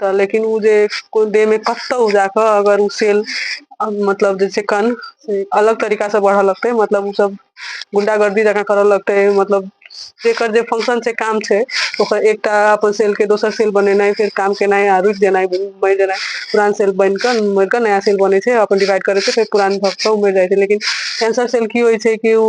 त लेकिन उ जे कोई देह में कसतौ जा के अगर उ सेल मतलब जे छै कण से अलग तरीका से बढ़े लगते मतलब उ सब गुंडागर्दी जका करे लगते मतलब जेकर जे फंक्शन छै काम छै ओकर एकटा अपन सेल के दोसर सेल बनेनाइ फेर काम केनाइ आ रुकि जेनाइ मरि जेनाइ पुरान सेेल बनि के मरि के नया सेेल बनै छै अपन डिवाइड करै छै फेर पुरान भक्तो मरि जाइ छै लेकिन कैंसर सेल की होइ छै कि उ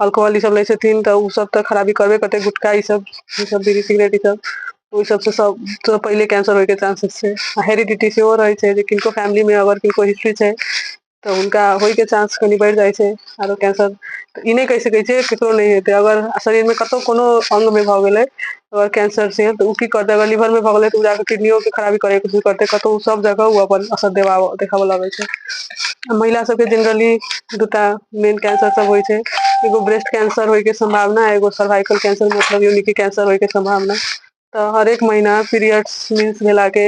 अल्कोहल ई सब लै छथिन तऽ ओसभ तऽ खराबी करबे करतै गुटखा ई सब ई सब बीड़ी सिगरेट ई सब ओहि सबसँ सब पहिले कैंसर होयके चानंसेस छै आ हेरिडिटी सेहो रहै छै जे किनको फैमिली मे अगर किनको हिस्ट्री छै तऽ हुनका होयके चानंस कनि बढ़ि जाइ छै आरो कैंसर तऽ ई नहि कहि सकैत छियै ककरो नहि हेतै अगर शरीरमे कतहु कोनो अंगमे भऽ गेलै अगर कैंसर से तऽ ओ की करतै अगर लीवर मे भऽ गेलै तऽ ओ जाकऽ किडनियो के खराबी करै के करतै कतौ ओ सब जगह ओ अपन असर देबा देखाबऽ लगै छै आ महिला सबके जेनरली दूटा मेन कैंसर सब होइ छै एगो ब्रेस्ट कैंसर होय के सम्भावना एगो सर्वाइकल कैंसर मतलब योनि के कैंसर होय के सम्भावना तऽ हरेक महिना पीरियड्स मिस भेला के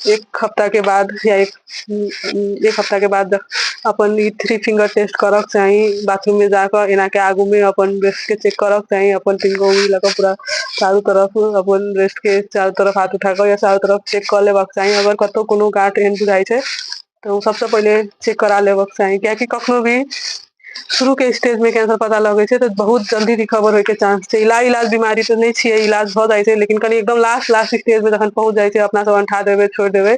एक हफ्ता के बाद या एक एक हफ्ता के बाद अपन ई थ्री फिंगर टेस्ट करक चाही बाथरूम में जाकर एना के आगू में अपन ब्रेस्ट के चेक करक चाही अपन तीन गो उंगली लगा पूरा चारों तरफ अपन ब्रेस्ट के चारों तरफ हाथ उठाकर या चारों तरफ चेक कर लेबाक चाही अगर कतौ कोनो गांठ एहन बुझाई छै तो सबसे पहले चेक करा लेबाक चाही कियाकि कखनो भी शुरू के स्टेज में कैंसर पता लगे छै तो बहुत जल्दी रिकवर होय के चांस छै इलाज इलाज बीमारी तो नहीं छियै इलाज भ जाय छै लेकिन कनी एकदम लास्ट लास्ट स्टेज में जखन पहुंच जाय छै अपना सब अंठा देबे छोड़ देबे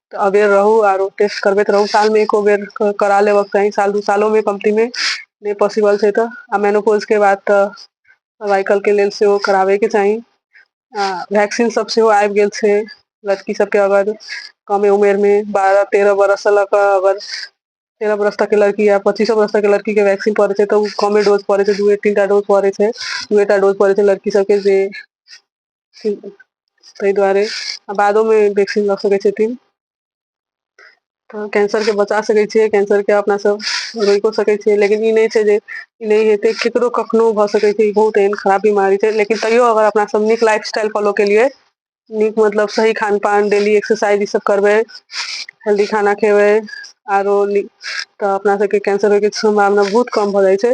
तऽ अबेर रहू आरो टेस्ट करबैत रहू सालमे एको बेर करा लेबक चाही साल दू सालोमे कमतीमे नहि पॉसिबल छै तऽ आ मेनोपोजके बाद तऽ सर्वाइकलके लेल सेहो कराबैके चाही आ वैक्सीन सब सेहो आबि गेल छै लड़की सबके अगर कमे उमेरमे बारह तेरह बरससँ लऽ कऽ अगर तेरह बरस तकके लड़की या पच्चीसो बरस तकके लड़कीके वैक्सीन पड़ै छै तऽ ओ कमे डोज पड़ै छै दूए तीन टा डोज पड़ै छै दूएटा डोज पड़ै छै लड़की सबके जे ताहि दुआरे आ बादोमे वैक्सीन लऽ सकै छथिन तऽ कैंसरके बचा सकै छियै कैंसरके अपना सब रोकिओ सकै छियै लेकिन ई नहि छै जे ई नहि हेतै ककरो कखनो भऽ सकै छै ई बहुत एहन खराब बीमारी छै लेकिन तैयो अगर अपना सब नीक लाइफ स्टाइल फॉलो केलियै नीक मतलब सही खान पान डेली एक्सरसाइज ई सब करबै हेल्दी खाना खेबै आरो नीक तऽ अपना सबके कैंसर होइके सम्भावना बहुत कम भऽ जाइ छै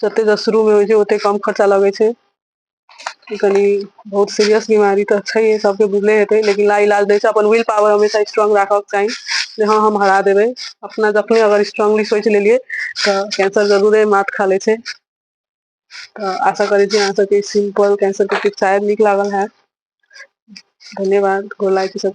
जते तऽ शुरू मे होइ छै ओते कम खर्चा लगै छै ई कनि बहुत सीरियस बीमारी तऽ छै सबके बुझले हेतै लेकिन ला इलाज दै छै अपन विल पावर हमेशा स्ट्रोंग राखब चाही जे हँ हम हरा देबै अपना जखने अगर स्ट्रांगली सोच लेलियै तऽ कैंसर जरूरे मात खा ले छै तऽ आशा करै छी अहाँ सबके सिम्पल कैंसर के टिप्स शायद नीक लागल हैत धन्यवाद गोर लागै छी सब